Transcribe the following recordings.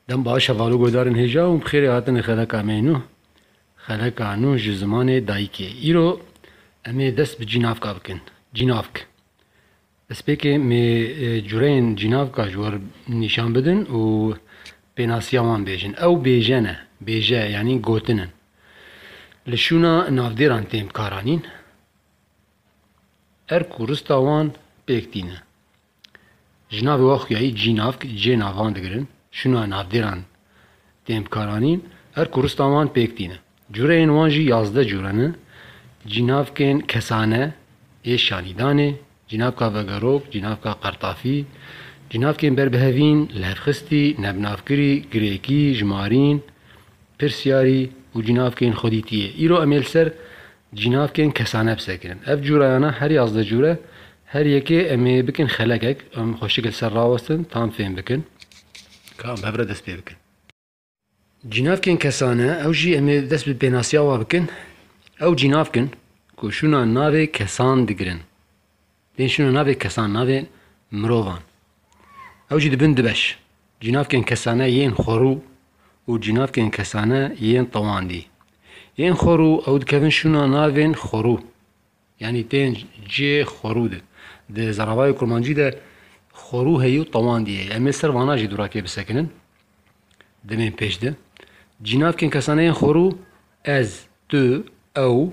Dem baş heval û guhdarên hêja û bi xêrê hatinê xeleka me nû. Xeleka nû ji zimanê dayikê. Îro em ê dest bi cînavka bikin. Cînavk. Destpêkê mê cureyên cînavka ji wer nîşan bidin û pênasiya wan bêjin. Ew bêje ne. Bêje yanî gotin in. Li şûna navdêran tên bikaranîn. Erk û rista wan pêk tîne. Ji navê wan xuyayî cînavk cê navan digirin, şûna navdêran tên bikaranîn, her ku rista wan pêk tîne. Cureyên wan jî yazdeh cure ne, cînavkên kesane ê şanîdanê, cînavka vegerok, cînavka qertafî, cînavkên berbihevîn, lihevxistî, nebnavkirî, girêkî, jimarîn, pirsiyarî û cînavkên xwedîtiyê. Îro em ê li ser Cînav kên kesane bi ser kirin. Ev cûrayana herî az de cûre her yekê em ê bikin xelekek, em xwe şikil ser rawestin tam fêm bikin ka em bi hev re dest pê bikin. Cînav kên kesane ew jî em ê dest bi pênasiya wa bikin. Ew cînav kin ku şûna navê kesan digirin. Lê şino navê kesan navê mirovan. Ew jî dibin du beş, cînavkên kesane yên xwerû û cînavkên kesane yên tewandî. Yên xwerû ew dikevin şino navên xwerû yanî tên cê xwerû de. Di zaravayê kurmancî de xwerû heye û tewandî heye. Em ê ser vana jî durakê bisekinin demên pêş de. Cînavkên kesane yên xwerû ez, tu, ew,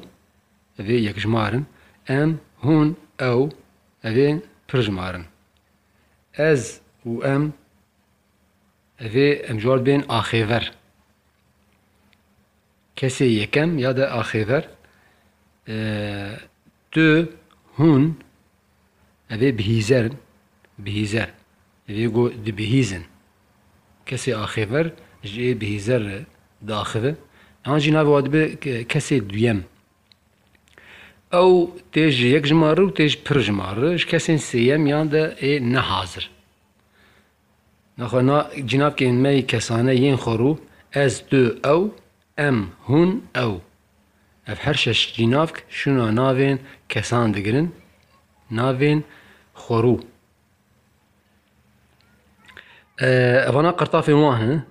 Ev ê yekjimar in. Em, hûn, ew, ev ê pirjimar in. Ez û em, ev ê em ji wan bên axêver. Kesê yekem ya de axêver, tu, hûn. Ev ê bihîzerin, bihîzer. Ev ê got dibihîzin. Kesê axêver ji ê bihîzer re diaxive. Yan jî navê wan dibe kesê duyem. Ew tê ji yek jimar re û tê ji pir jimar re. Ji kesên sêyemiyan de ê nehazir. Naxwe na cinakên me yê kesane yên xwe rû, ez, tu, ew, em, hûn, ew. Ev her şeş cinavk şûna navên kesan digirin, navên xwe rû. Evana qertafên wan in.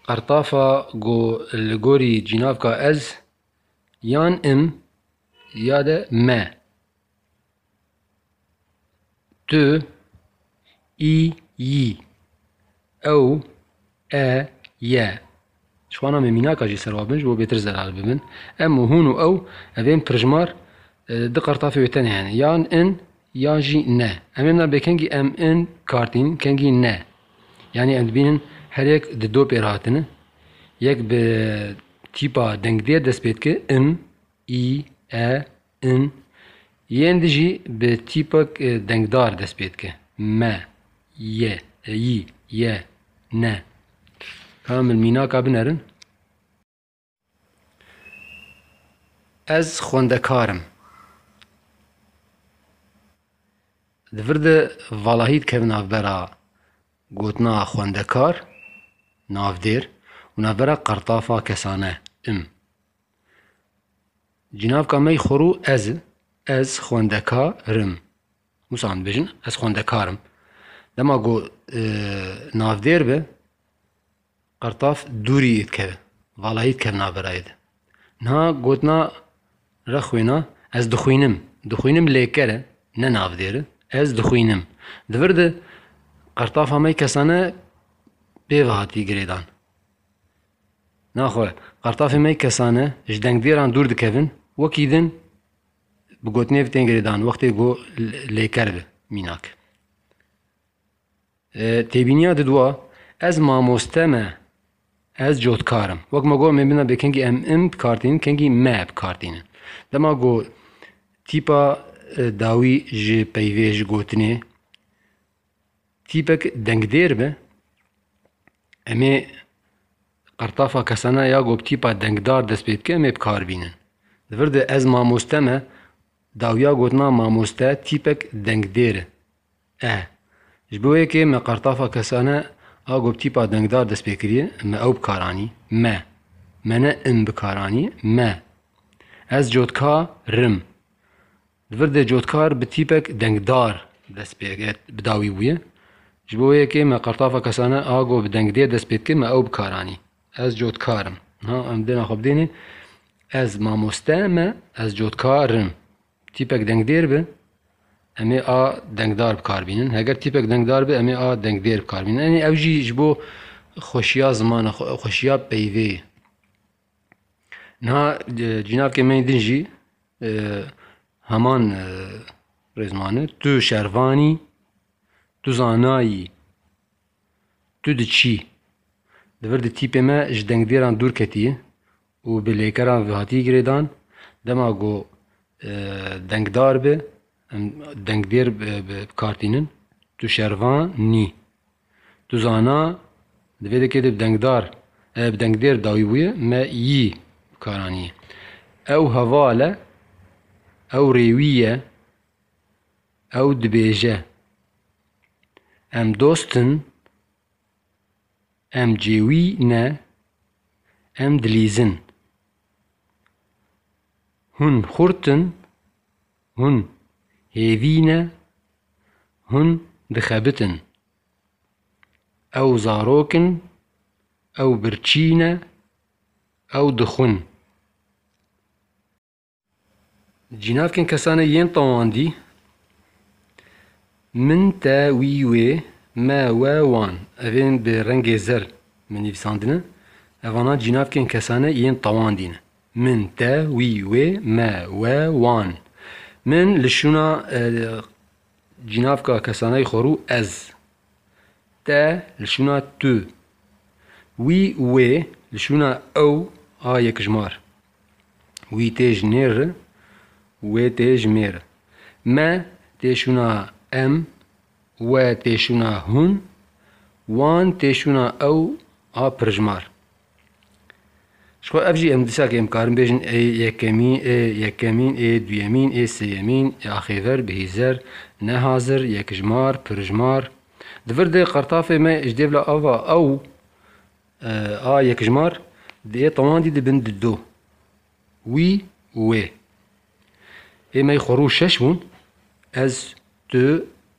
Qertafa ku li gorî cinavka ez yan im ya de me. Tu î yî. Ew e ye. Ji wana me mînaka jî serwa bin ji bo bêtir zelal bibin. Em û hûn û ew ev ên pirjmar di qertafê wê tenê hene. Yan in yan jî ne. Em ê mîna bê kengî em in kartîn kengî ne. Yanî em dibînin her yek di do pêr hatine. Yek bi tîpa dengdêr dest pê dike, im, î, e, in, yên di jî bi tîpek dengdar dest pê dike, me, ye, yî, ye, ne. Kamil mînaka bin erin. Ez xwendekar im. Di vir de valahî dikeve navbera gotina xwendekar, navdêr û navbera qertafa kesane, im. Cinavka mey xorû ez i. Ez xwendeka rim. Wisa em dibêjin ez xwendekar im. Dema ku navdêr bi, qirtaf dûrî dikeve. Valayî dikeve navê rayê de. Niha gotina rexwêna ez dixwînim. Dixwînim lêker e, ne navdêr e. Ez dixwînim. Di vir de qirtafa me kesane pê ve hatî girêdan. Naxwe, qartafê me kesan e, ji dengdêran dûr dikevin, wekî din bi gotinê ev tên girêdan wextê ku lêker bi mînak. Têbîniya didwa, ez mamoste me, ez cotkar im. Wek me got mêmina bê kengî em im bi kar tînin, kengî me bi kar tînin. Dema ku tîpa dawî ji peyvê, ji gotinê Tîpek dengdêr be, em ê qertafa kesana ya ku bi tîpa dengdar dest pê dike em ê bi kar bînin. Li vir de ez mamoste me, dawiya gotina mamoste tîpek dengdêr e. Eh, ji bo yekê me qertafa kesane a ku bi tîpa dengdar dest pê kiriye, me ew bi kar anî. Me. Me ne in bi kar anî, me. Ez cotka rim. Li vir de cotkar bi tîpek dengdar dest pê bi dawî bûye. Ji bo wê yekê me qertafa kesane a ku bi dengdêr dest pê dike me ew bikar anî. Ez cotkar im. Niha em dêna xwe bidênê Ez mamoste me, ez cotkar im. Tîpek dengdêr be em ê a dengdar bikar bînin. Heger tîpek dengdar be em ê a dengdêr bikar bînin. Enê ew jî ji bo xweşiya zimana xwe, xweşiya peyvê ye. Niha cînavkê me yê din jî heman rêzman e, tu şervan î, tu zana yî, tu diçî. Li vir di tîpê me ji dengdêran dûr ketî û bi lêkeran hatî girêdan. Dema ku dengdar be, em dengdêr bi kar tînin, tu şervan î. Tu zana di vê dekê de bi dengdar bi dengdêr dawî bûye me yî bi kar anîye. Ew heval e, ew rêwî ye, ew dibêje em dost in, em cêwî ne, em dilîz in. Hûn xurt in, Hûn hêvî ne, hûn dixebitin. Ew zarok in, ew birçî ne, ew dixwin. Cînavkên kesanê yên tewandî, min, te, wî, wê, me, we, wan, evên bi rengê zer mi nivîsandine, evanan cînavkên kesanê yên tewandî ne. Min, te, wî, wê, me, we, wan. Min li şûna cînavka kesanayî xwe rû ez. Te li şûna tu. Wî û wê li şûna ew a yekijmar. Wî tê ji nêr re û wê tê ji mêr re. Me tê şûna em, we tê şûna hûn, wan tê şûna ew a pirijmar. Ji xwe ev jî em disa ke em karin bêjin ê yekemî, ê yekemîn, ê duyemîn, ê sêyemîn, ê axêver, bihîzer, nehazir, yekijmar, pirjmar. Di vir de qertafê me ji dêvla ava ew a yekijmar di ê tewandî de bin di do. Wî û wê. Ê me yê xwe rû şeş bûn, ez, tu,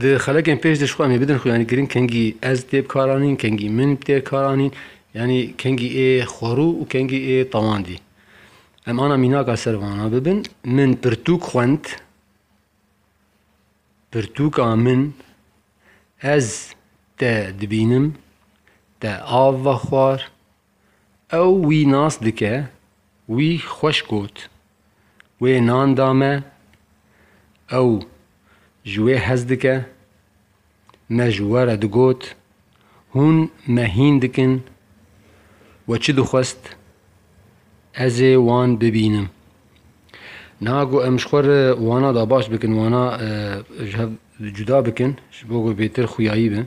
Di xelekên pêş de ji xwe em ê bidin xwe yanî giring kengî ez tê bikaranîn, kengî min tê karanîn yanî kengî ê xwerû û kengî ê tewandî. Em ana mînaka ser vana bibin min pirtûk xwend, pirtûka min ez te dibînim, te av vexwar, Ew wî nas dike, wî xweş got. Wê nan da me, ew ji wê hez dike. Me ji we re digot, hûn me hîn dikin. We çi dixwest? Ez ê wan bibînim. Niha ku em ji xwe re wana da baş bikin, wana ji hev cuda bikin, ji bo ku bêtir xuyayî bin,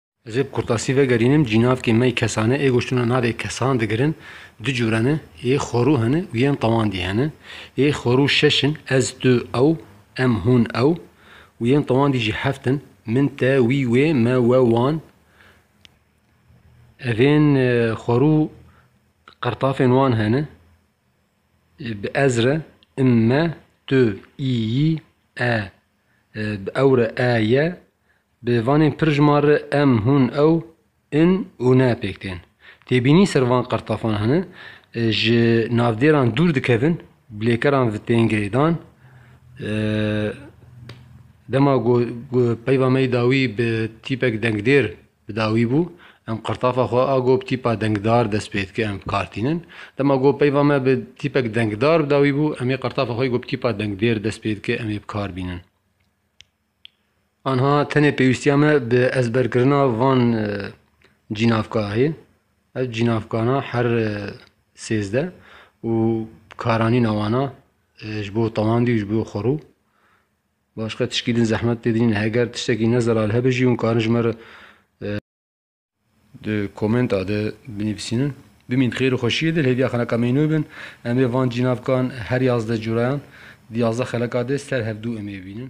Ez ê bi kurtasî vegerînim, cînavkê me yê kesane ê goştuna navê kesan digirin, du cure ne, ê xwerû hene û yên tewandî hene. Ê xwerû şeş in, ez, tu, ew, em, hûn, ew û yên tewandî jî heft in, min, te, wî, wê, me, we, wan. Ev ên xwerû qirtafên wan hene, bi ez re, im, me, tu, î, yî, e, Bi ew re e ye. Bi vanên pir ji man re em, hûn, ew, in û ne pêk tên. Têbînî ser van qirtafan hene. Ji navdêran dûr dikevin, bi lêkeran vi tên girêdan. Dema ku peyva me yê dawî bi tîpek dengdêr Bi dawî bû, em qirtafa xwe a gob tîpa dengdar dest pê dike em kartînin. Dema gob peyva me bi tîpek dengdar bi dawî bû, emê qirtafa xwe gob tîpa dengdêr dest pê dike emê bi kar bînin. Anha tenê pêwîstiya me bi ezberkirina van cînavka heye. Ev cînavkana her sêzdeh û karanîna wana ji bo tewandî û ji bo xwerû. Başka tişkî din zehmet pê dinîn heger tiştekî ne zeral hebe jî hûn karin ji me re di komenta de binivîsînin. Bimîn xêr û xweşiyê de li hêviya xeleka meynoy bin. Em ê van cînavkan her yazdeh curayan di yazdeh xeleka de ser hev dû em ê bibînin.